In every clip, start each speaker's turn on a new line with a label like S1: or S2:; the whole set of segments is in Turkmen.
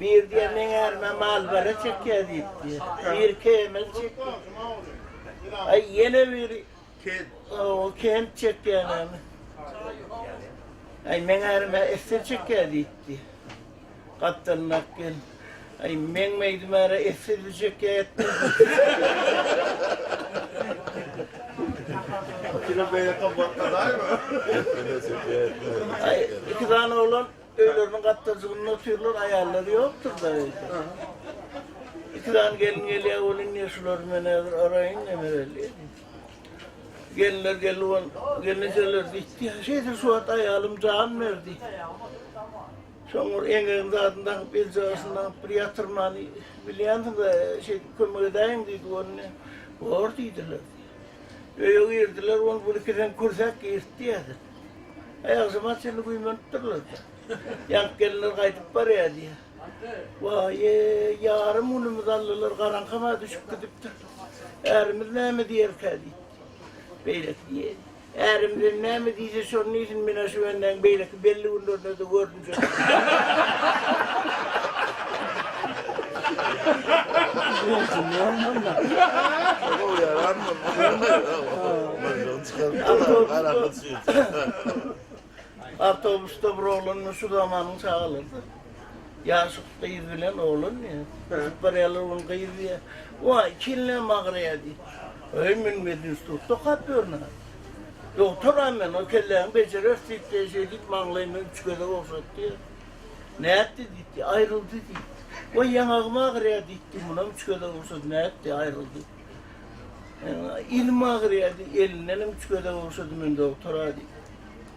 S1: Biri diýýär, meň ärime malbere çekýär diýip diýýär. Biri kemil çekýär. Aý, ýene biri kent. Owo, kent çekýänemi. Aý, meň ärime esdir çekýär diýip diýýär. Gapdalyndaky gelin. Aý, meň meýdim äre esdirli çekýär. Aý,
S2: iki
S1: sany oglan Öýleriniň gapdalcygynda otyrlar, aýallary ýokdur-da öýde. Iki sany gelin gelýär, ol indi şulary men häzir araýyn, nemereli diýdi. Gelinler geldi, ol gelnejeler diýdi, şeýdip şu wagt aýalym jan berdi. Soň bir eňegini zadyn dakyp, eljagasyny daňyp bir ýatyrmany bilýänsiň-dä, şeýdip kömek edäýiň diýdi, onda bor diýdiler. Öýe girdiler, ol bir-iki seň kürsäp girtdi häzir. Aýakjyma çenli güýmenipdirler-de. Ýaňky gelinler gaýdyp barýar diýýär. Waý-eý, ýarym günümizi aldylar, garaňkam-a düşüp gidipdir. Ärimiz näme diýerkä diýipdir. Beýleki diýýär. Ärimizem näme diýse, şony diýsin, men-ä şu bendäň beýleki belli günlerinde-de görlüp Awtobusda bir oglan şu zamanyň çagalardy. Ýaşy gyz bilen oglan diýýär. Uçup barýarlar, ol gyz diýýär. Waý, çenlä magraýa diýip. Öý, men medinstitutda okap ýörün. Dogtor-a men, o kelläňi bejereris, diýip, şeýdip, maňlaýyma üç gezek ogşatdy. Nätdi, diýipdi, aýryldy, diýipdi. Goý, ýaňagym agyrýar, diýipdi, munam üç gezek ogşady, nätdi, aýryldy. Elim agyrýar, diýip, elindenem üç gezek ogşady men, dogtor-a, diýip.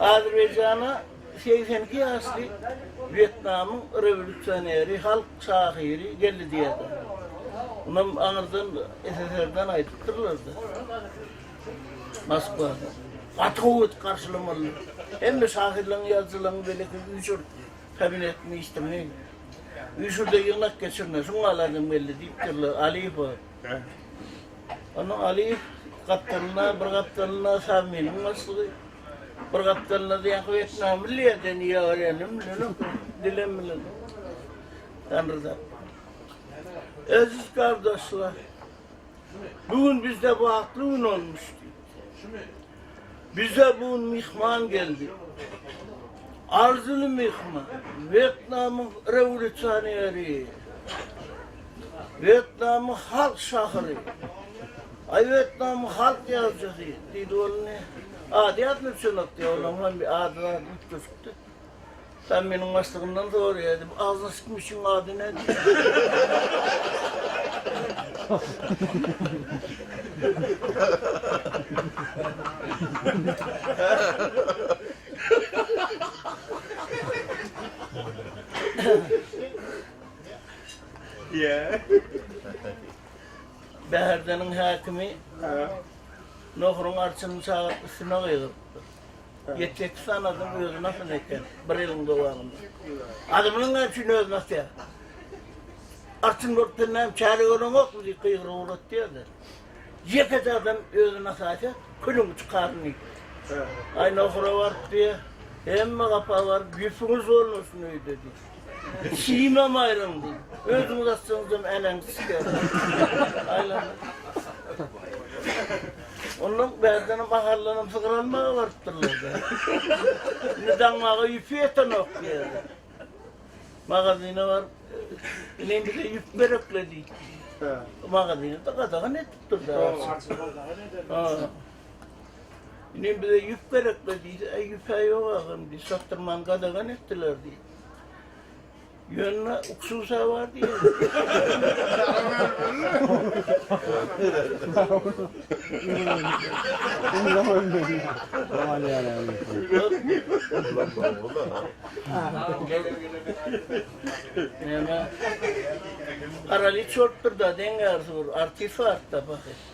S1: Azerbaýjana segsen iki ýaşly Wýetnamyň rewolýusioneri, halk şahyry geldi diýýärler. Munam aňyrdan SSR-den aýdypdyrlar-da. Moskwada. Gaty gowy edip garşylamalydyr. Hemme şahyrlaryň, ýazyjylaryň beýleki üýşür kabinetini, işdimi, üýşür-de ýygnak geçirine, şuňa aladym geldi diýipdirler Aliýewe. Onuň Alyýew gapdalynda, bir gapdalynda Samynyň başlygy, bir gapdalynda diýýän wýetnamly ýerden ýa ölenim bilenem, dilem bilenem. Tanry zat. Eziz gardaşlar, bu gün bizde bagtly gün bolmuşdy. Bize bugün myhman geldi. Arzyly myhman, Wýetnamyň rewolýusioneri, Wýetnamyň halk şahyry, aý Wýetnamyň halk ýazyjysy diýdi ol indi. Ady ýatymdan çynlapdy ýa onuň hem bir ady-zady üýtgeşikdi. Sen meniň başlygymdan soraýaýdy, bu agzyna syçan muşygyň ady nädi? Bäherdeniň häkimi Nohuryň arçynyň çagyryp üstüne gygyrypdyr. Ýetjekki sanadyň özi nasyl eken bir ýylyň dowamynda. Adamlaň näme üçin özi nasýar? Artyn bolup sen näme çäre göreňokmy diýip gygyryp ugratýardy. Ýekeje adam özi nasaýsa külüň uçy karyny. Aý nohura baryp diýýär. Hemme gapa baryp ýüpüňiz bolmasyn öýde diýip. Şimem aýryldy. Özüňiz atsaňyzam äneňiz çykyar. Ondan bärden mahallanam sygyr almaga barypdyrlar. Indi daňmaga ýüpi ýetenok diýerler. Magazyna baryp, men bize ýüp berekle diýip. Magazyny da gadagan edip durdy. Ine bize ýüp gerekli diýse, e, ýüp-ä ýok agam diýdi, satdyrmany gadagan etdiler diýdi. Ýöne uksusa bar diýdi. Neme? Arali çortdur da deň ýarysy bir artist bar da baky.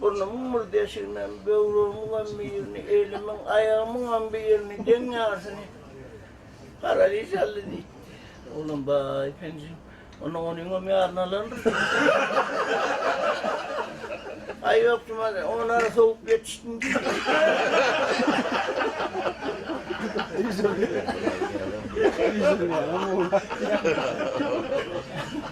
S1: Burnumyň bir deşiginem, böwregimiňem bir ýerini, elimiň, aýagymyňam bir ýerini, deň ýarsyny garagüýz çaldy diýipdi. Oglan, Baý, penjim, onda onuňam ýaryny alarmyş? Aý, ýok, Jumajan, onara sowup ýetişdim diýdi.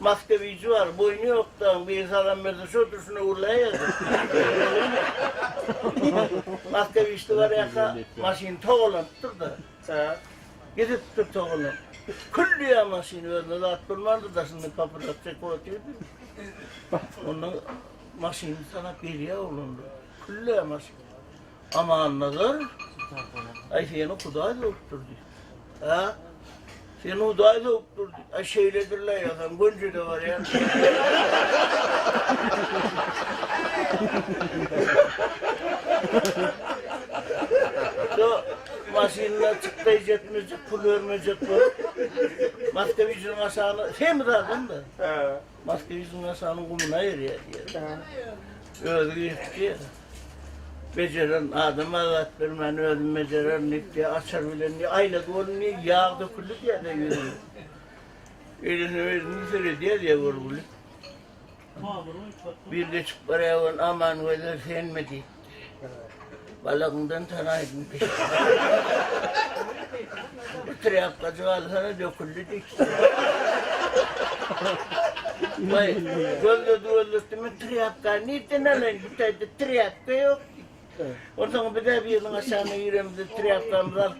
S1: Maktebici bar, boýny ýokdan bir salam berse şo durşuna urlaýardy. Maktebiçde barýaka maşyny togalanypdyr-da. Gidipdir togalanyp. Külliýa maşyn özüne zat bolmandyr daşyndan papiros çekip otyrdy. Ondan maşyny tanap gelýä oglanlar. Külliýa maşyn. Amannazar, Aý seni Hudaý döwüp durdy. A? Seni Hudaý döwüp durdy. Aý şeýledir-le ýasan, gönjede barýan. Şu maşynda çykdaýjak-mejek, pul bermejek bolup, Moskowicin maşany, semi zadam-da. Maske ýüzüni aşanyň gumuna erýär diýerler. Özi girip diýer. Bejeren adama zat bermän özüm bejererin diýip diýer, açar bilen diýer, aýna dolun diýer, ýag döküldi diýer de ýüzüne. Elini özüni süredýär diýer görgüli. Bir geçip barýar ol Aman gözel senmi diýip. Balagyndan tanaýdym. Bu trýapkajyk alsana döküldi diýip. Vay, gözledi gözledi mi trýapka, nirden alaýyn, bu taýda trýapka ýok. Ondan bir de biriniň aşagyna ýöremizde trýapkamyzy alyp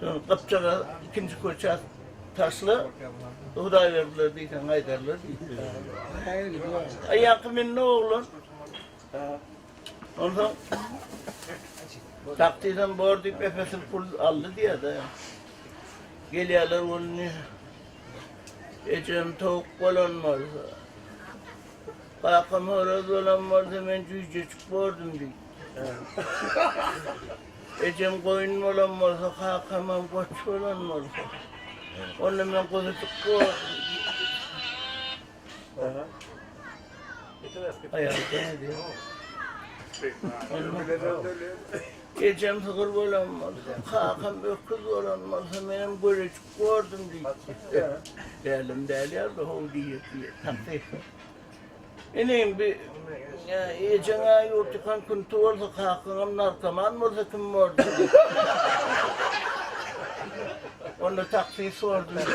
S1: Soň gypjagaz ikinji köçä taşla, Hudaýberdiler diýseň gaýdarlar diýipdir. Aýaňky mindi oglan. Onsoň sak diýseň bor diýip epesil pul aldy diýýär-de. Gelýärler gününi. Ejem towuk bolan bolsa, kakam horaz bolan bolsa men jüýjejik bordum diýip. Ejem goýun bolan bolsa, kakamam goç bolan bolsa. Onda men guzudyk Ejem sygyr bolan bolsa, kakam öküz bolan bolsa, menem göreçik bordum diýip. Dälim däl ýa-da howdy ýedi. Inim, bi ejeň-ä ýurt ýykan künti bolsa, kakaňam narkoman bolsa kim bor diýdi. Onda taksis bor diýdi.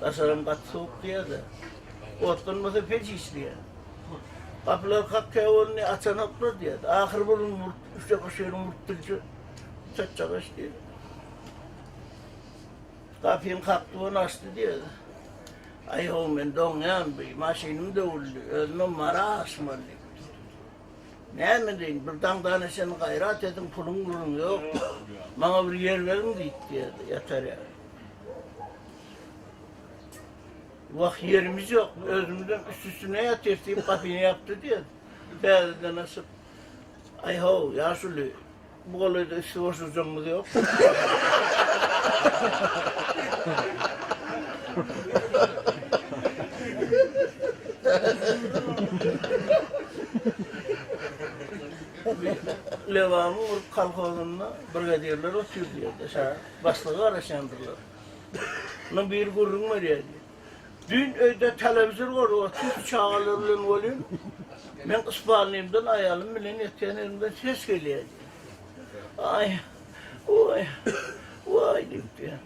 S1: Daşaram gaty sowuk diýýärdi. Ot bolmasa peç iç diýýär. Gapylar kakýa bolny açanoklar diýýärdi. Ahyr burun burt, üçe gyşyny burt dilçi. Çatjak iş diýdi. Gapyny kakdy bolny açdy diýýärdi. Aý ho men doňýan bu maşynym döwüldi. Özüme mara aşmaly. Näme deýin bir daňdana çen gaýrat ediň puluň buluň ýok. Maňa bir ýer beriň diýdi diýýärdi. Ýatar ýa. Wah, ýerimiz ýok, özümizem üst-üstüne ýatyrys, diýip, gapyny ýapdy, diýýär. Täzeden açyp, Aý-how, ýaşuly, bu golaýda üsti boş ujamyz ýokmy? Lebapyň bir kolhozynda brigadirler otyrdy ýerde. Başlyga garaşýandyrlar. Munuň biri gürrüň berýär diýip. Düýn öýde telewizor gorup otyrys çagalar bilen welin, meň spalnymdan aýalym bilen ýatýan ýerimden ses gelýär diýýär. Aý, oý, waý diýipdir.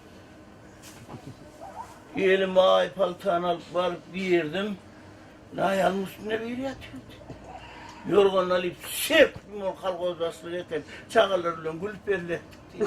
S1: Gelin maý paltany alyp baryp girdim. Naýalyň üstünde biri ýatyrdy. Ýorganyny alyp, şep diýip, ony kolhoz başlygy eken çagalar bilen gülüp belletdik diýdi.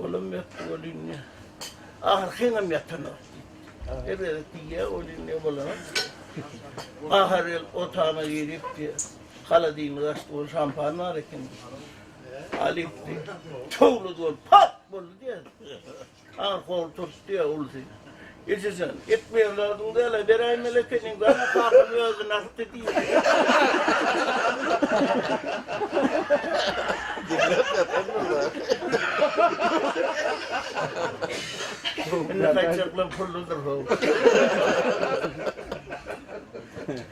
S1: Olam ýatdy welin, ahyry heňem ýatanok diýdi. Her gezek diýýä welin ne bolanok diýýä. Bahar gel otagyna girip diýýä. Haladinlik açdy ol şampan bar eken diýýä. Alypdy. Towlady ol pat boldy diýýä. Aňry howly turtdy diýýä ulusy. Ejejan, et berlärdiň däl-ä, beräýmeli ekeniň, bana kakam özi nasty diýdi. Diňläp ýatandyr-da. Indi gaýtjaklam pulludyr-how.